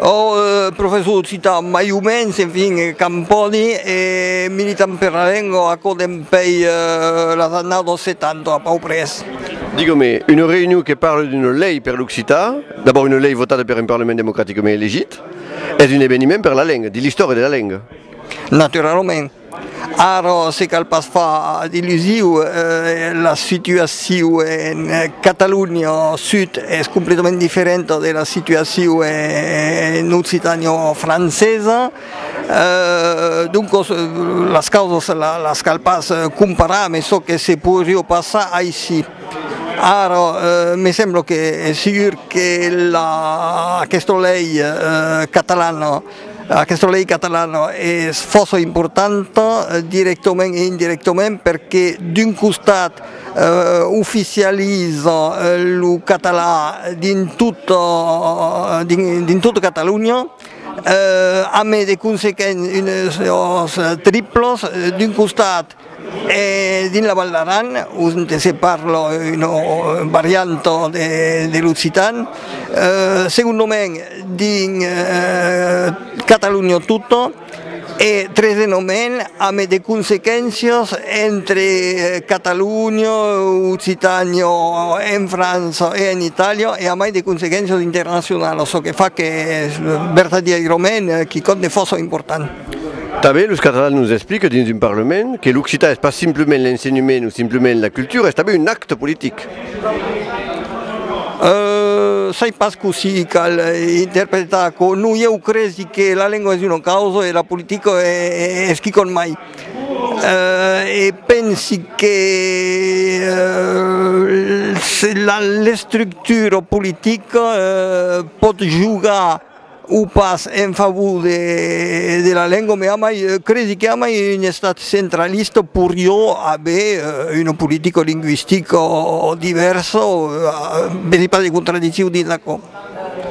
Ò professor occitan mai o mens, enfin, quand pòdi, e militant per la lenga aquò dempèi las annadas 70 a pau pres. Digui-me, una reünion que parle d'una lei per l'occitan, d'abòrd una lei votada per un parlament democraticament elegit, es un eveniment per la lenga, dins l'istòria de la lenga? Naturalament. Ara se cal pas far d'illusiu, la situaciu en Catalonha Sud es completament diferenta de la situaciu en Occitània francesa, doncas las causas las cal pas comparar, mes çò que se podriá passar aicí. Ara me sembla que es segur que aquesta lei catalana, Aquesta lei catalana es fòrça importanta, directament e indirectament, perque d'un costat oficializa lo catalan dins tota Catalonha, ambe de consequéncias triplas, d'un costat E dins la Val d'Aran, onte se parla una varianta de l'occitan, segondomai dins Catalonha tota, e tresenomai ame de consequéncias entre Catalonha, Occitània, en França e en Itàlia, e amai de consequéncias internacionalas, çò que fa qu'es vertadièirament quicòm de fòrça important. Tanben los catalans nos expliquen dins un parlament que l'occitan es pas simplement l'ensenhement o simplement la cultura, es tanben un acte politic. Euu sai pas cossí cal interpretar aquò, non ieu cresi que la lengua es una causa e la politica es quicòm mai. Euu e pensi que euu l'estructura politica euu pòt jogar o pas en favor de la lenga me amai credi que amai un estat centralista porió aver una politica lingüistica divèrsa vedi pas de contradiccion dins aquò.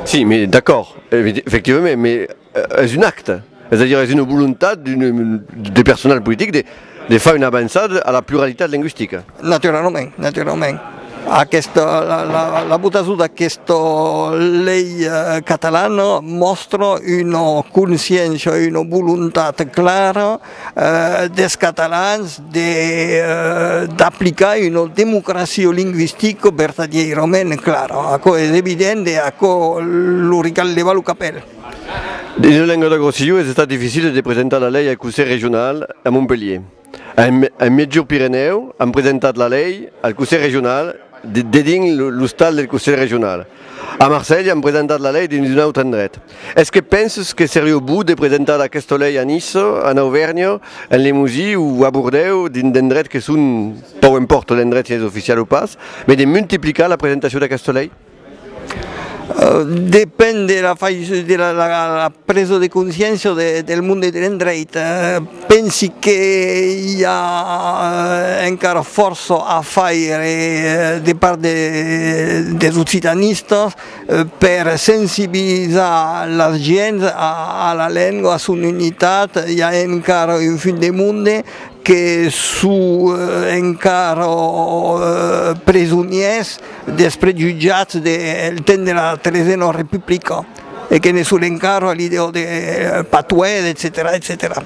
Si, mais d'accord, effectivament, mais es un acte. Es a dire, es una volontat de personal politic de far una avançada a la pluralitat lingüistica. Naturalament, naturalament. Aquesta, la votacion d'aquesta lei catalana mòstra una consciéncia, una volontat clara des catalans d'aplicar una democracia lingüistica vertadièrament clara. Aquò es evident e aquò lo recalhèva lo capèl. Dins lo Languedoc-Rossillon es estat dificil de presentar la lei al Conselh Regional a Montpelhier. En Miègjorn Pirenèu an presentat la lei al Conselh Regional dedins l'ostal del Conselh Regional. A Marselha an presentat la lei dins un autre endret. Es que penses que serió bon de presentar aquesta lei a Niça, en Auvèrnha, en Limosí o a Bordèu dins d'endrets que son, pòu empòrta l'endret si es oficial o pas, mai de multiplicar la presentacion d'aquesta lei? Depend de la fai de la presa de consciéncia del monde de l'endreit, pensi que i a encara fòrça a faire de part des occitanistas per sensibilizar las gents a la lenga, a son unitat, i a encara un fuit de monde que son encara presonièrs dels prejutjats del temps de la tresena republica e que ne son encara a l'idèa de patuèr, etcetèra, etcetèra.